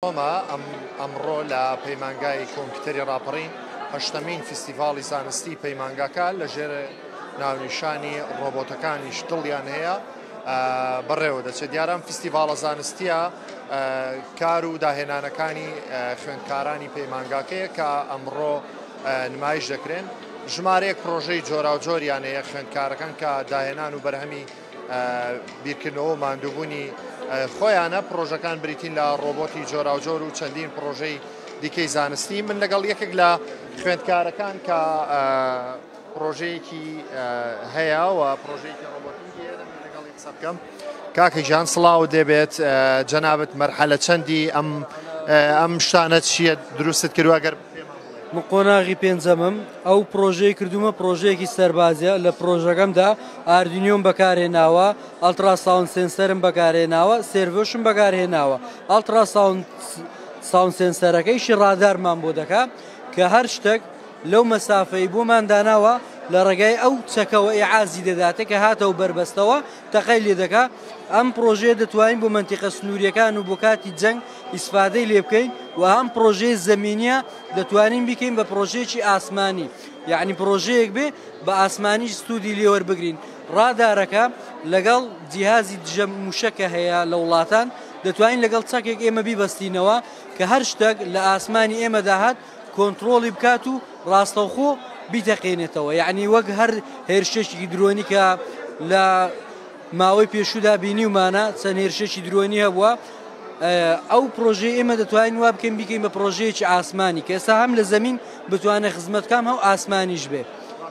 ئەمە ئەمڕۆ لە پەیمانگای کۆمپیوتەری ڕاپەڕین هەشتەمین فیستیڤاڵی زانستی پەیمانگاکە لە ژێر ناونیشانی ڕۆبۆتەکانیش دڵیان هەیە بەڕێوە دەچێت دیاران فیستیڤاڵە زانستیە کار و داهێنانەکانی خوێندکارانی پەیمانگاکەیە کە ئەمڕۆ نمایش دەکرێن ژمارەیەک پرۆژەی جۆراوجۆریانەیە خوێندکارەکان کە داهێنان و بەرهەمی بیرکردنەوە و ماندووبوونی خۆیانە. پڕۆژەکان بریتین لە ڕۆبۆتی جۆراوجۆر و چەندین پڕۆژەی دیکەی زانستی. من لەگەڵ یەکێک لە خوێندکارەکان کە پڕۆژەیەکی هەیە و پڕۆژەیەکی ڕۆبۆتیکی هەیە دەمەوێت لەگەڵی قسە بکەم. کاکە گیان سڵاو، دەبێت جەنابت مەرحەلە چەندی ئەم ئەم شتانە چییە دروستت کردووە گەر من قۆناغی پێنجەمم ئەو پرۆژەی کردومە پرۆژەیەکی سەربازە لە پرۆژەکەمدا ئاردینیۆم بەکارهێناوە ئەلتراساون سنسەرم بەکارهێناوە سێرڤشم بەکارهێناوە ئەلتراساون ساون سنسەرەکەیشی ڕادارمان بۆ دەکا کە هەر شتێک لەو مەسافەی بۆمان داناوە لە ڕێگای ئەو چەکەوە ئعازی دەداتێ کە هاتەوە بەربەستەوە تەقای لێ دەکا ئەم پرۆژەیە دەتوانین بۆ منتیقە سنووریەکان و بۆ کاتی جەنگ ئیسفادەی لێ بکەین و هەم پرۆژەیە زەمینیە دەتوانین بیکەین بە پرۆژەیەکی ئاسمانی یعنی پرۆژەیەک بێ بە ئاسمانی سوودی لێوەر بگرین ڕادارەکە لەگەڵ جیهازی دژە موشەکە هەیە لە وڵاتان دەتوانین لەگەڵ چەکێک ئێمە بیبەستینەوە کە هەر شتێک لە ئاسمانی ئێمە داهات کۆنتترۆڵی بکات و ڕاستەوخۆ بیتەقێنێتەوە یعنی وەک هەر هێرشێکی درۆنی کە لە ماوەی پێشوودا بینیومانە چەند هێرشێکی درۆنی هەبووە ئەو پرۆژەی ئێمە دەتوانین وا بکەین بیکەین بە پرۆژەیەکی ئاسمانی کە ئێستا هەم لە زمین بتوانێ خزمەتکام هەو ئاسمانیش بێ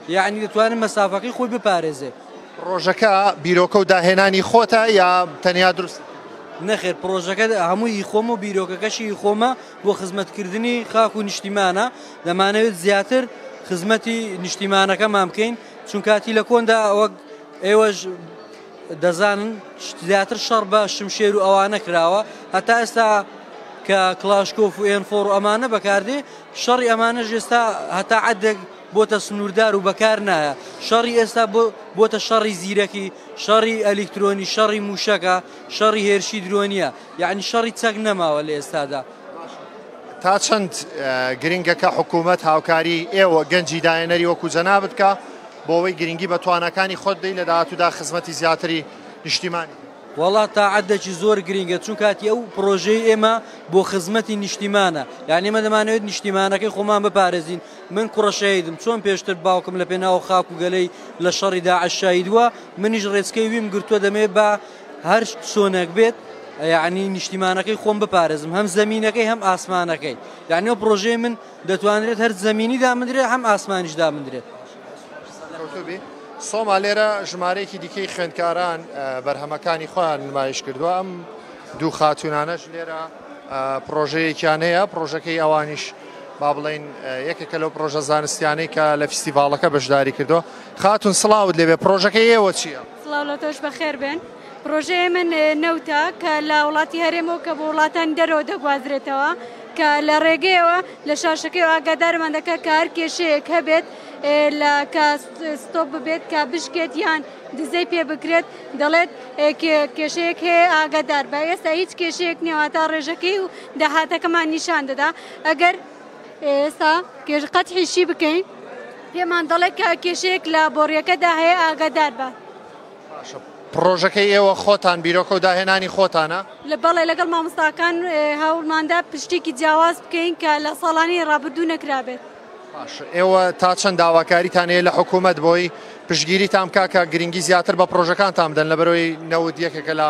یعنی دەتوانن مەسافەکەی خۆی بپارێزێ پرۆژەکە بیرۆکە و داهێنانی خۆتە یا تەنیا دروست نەخێر پرۆژەکە هەمووی خۆم و بیرۆکەکەشی خۆمە بۆ خزمەتکردنی خاک و نیشتیمانە دەمانەوێت زیاتر خزمەتی نیشتیمانەکەمان بکەین چون کاتی لە کۆندا وەک ئێوەش دەزانن زیاتر شەڕ بە شمشێر و ئەوانە کراوە هەتا ئێستا کە کلاشکۆف و ئێنفۆڕ و ئەمانە بەکاردێ شەڕی ئەمانە ژێستا هەتا عدێک بۆتە سنووردار و بەکار نایە شەڕی ئێستا بۆتە شەڕی زیرەکی شەڕی ئەلیکترۆنی شەڕی موشەکە شەڕی هێرشی درۆنیە یعنی شەڕی چەک نەماوە لە ئێستادا تا چەند گرنگە کە حکوومەت هاوکاری ئێوە گەنجی داهێنەری وەکو جەنابت بکا بۆ ئەوەی گرنگی بە تواناکانی خۆت بدەی لە داهاتوودا خزمەتی زیاتری نیشتیمانی وەڵا تاعەدەکی زۆر گرینگە چون کاتی ئەو پرۆژەی ئێمە بۆ خزمەتی نیشتیمانە یعنی مە دەمانەوێت نیشتیمانەکەی خۆمان بپارێزین من کوڕەشەیدم چۆن پێشتر باوکم لە پێناو خاک و گەلەی لە شەڕی داعشاییدووە منیش ڕێچکەی ویم گرتووە دەمێ بە هەر چۆنێک بێت یعنی نیشتیمانەکەی خۆم بپارێزم هەم زمینەکەی هەم ئاسمانەکەی یعنی پرۆژەی من دەتوانرێت هەر زمینی دامدرێت هەم ئاسمانیش دامدرێت سۆما لێرە ژمارەیەکی دیکەی خوێندکاران بەرهەمەکانی خۆیان نمایش کردووە ئەم دوو خاتونانەش لێرە پرۆژەیەکیان هەیە پرۆژەکەی ئەوانیش با بڵین یەکێکە لەو پرۆژە زانستیانەی کە لە فیستیڤالەکە بەشداری کردو خاتون سلااوت لێبێ پرۆژەکە ئێوە چییە؟ سڵاو لە تۆش بەخێر بێن. پڕۆژەی ئێمە نەوتە کە لە وڵاتی هەرێمەوە کە بۆ وڵاتانی دەرەوە دەگوازرێتەوە کە لە ڕێگەیەوە لە شاشەکەی ئاگادارمان دەکات کە هەر کێشەیەک هەبێت لە کە ستۆپ ببێت کە بشکێت یان دزەی پێ بکرێت دەڵێت کێشەیەک هەیە ئاگادار بە ئێستا هیچ کێشەیەک نێواتا ڕێژەکەی و داهاتەکەمان نیشان دەدا ئەگەر ئێستا کێش قەتحی شی بکەین پێمان دەڵێت کە کێشەیەک لە بۆڕیەکەدا هەیە ئاگادار بە پرۆژەکەی ئێوە خۆتان بیرۆکە و داهێنانی خۆتانە لە بەڵێ لەگەڵ مامۆستاکان هەوڵماندا پشتێکی جیاواز بکەین کە لە ساڵانی ڕابردوو نەکرابێت ئێوە تا چەند داواکاریتان هەیە لە حکوومەت بۆی پشگیریتان بکە کە گرنگی زیاتر بە پرۆژەکانتان بدەن لە بەرەوەی نەوت یەکێکە لە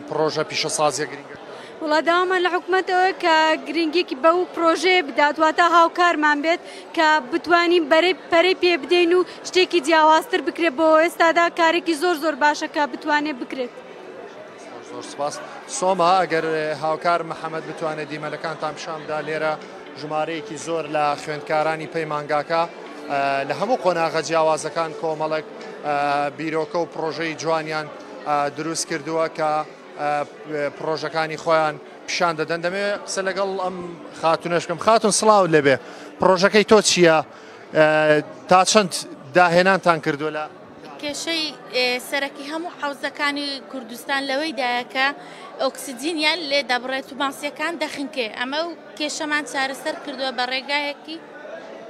پڕۆژە پیشەسازیە گرنگەکان. وڵا داوامان لە حکومەت ئەوە کە گرنگیکی بە و پرۆژەیە بدات واتا هاوکارمان بێت کە بتوانین بەرەی پەرەی پێ بدەین و شتێکی جیاوازتر بکرێت بۆ ئێستادا کارێکی زۆر زۆر باشە کە بتوانێت بکرێت. زۆر سپاس سۆما ئەگەر هاوکار محەممەد بتوانێت دیمەنەکانتان پیشان بدا لێرە ژمارەیەکی زۆر لە خوێندکارانی پەیمانگاکە لە هەموو قۆناغە جیاوازەکان کۆمەڵک بیرۆکە و پرۆژەی جوانیان دروست کردووە کە پڕۆژەکانی خۆیان پیشان دەدەن دەمەوێت قسە لەگەڵ ئەم خاتونەش بکەم خاتون سڵاو لەبێ پڕۆژەکەی تۆ چییە تا چەند داهێنانتان کردو لە کێشەی سەرەکی هەموو حوزەکانی کوردستان لەوەی دایەکە ئۆکسسیجینیان لێ دەبڕێت و ماسیەکان دەخنکێ ئەمە و کێشەمان چارەسەر کردووە بە ڕێگایەکی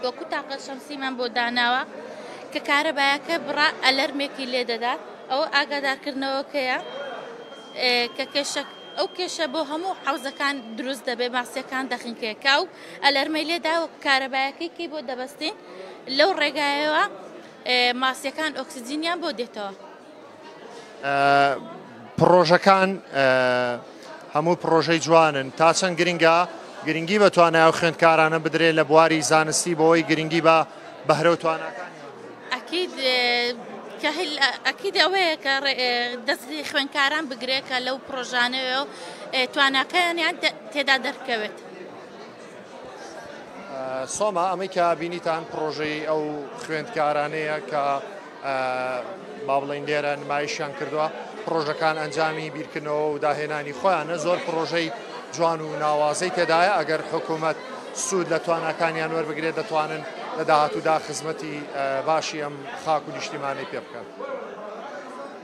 وەکو تاقە شەمسیمان بۆ داناوە کە کارەبایەکە بڕا ئەلەرمێکی لێ دەدات ئەوە ئاگادارکردنەوەکەیە کە کێشە ئەو کێشە بۆ هەموو حوزەکان دروست دەبێ ماسیەکان دەخنکێکا و ئەلەرمەی لێدا و کارەبایەکەی کەی بۆ دەبەستین لەو ڕێگایەوە ماسیەکان ئۆکسسیجینیان بۆ دێتەوە. پڕۆژەکان هەموو پڕۆژەی جوانن تا چەند گرنگە گرنگی بە توانای و خوێندکارانە بدرێت لە بواری زانستی بۆی گرنگی بە بەهرە و تواناکانیان ئەکید کە ئەکید ئەوەیە کە دەستی خوێنکاران بگرێت کە لەو پرۆژانەوە و تواناکەیانیان تێدا دەرکەوێت. سۆما ئەمەی کە بینیتان پرۆژەی ئەو خوێندکارانەیە کە با بڵێین لێرە نمایشیان کردووە پرۆژەکان ئەنجامی بیرکردنەوە و داهێنانی خۆیانە زۆر پرۆژەی جوان و ناوازەی تێدایە ئەگەر حکوومەت سوود لە تواناکانیان وەربگرێت دەتوانن لە داهاتوودا خزمەتی باشی ئەم خاک و نیشتیمانی پێ بکەن.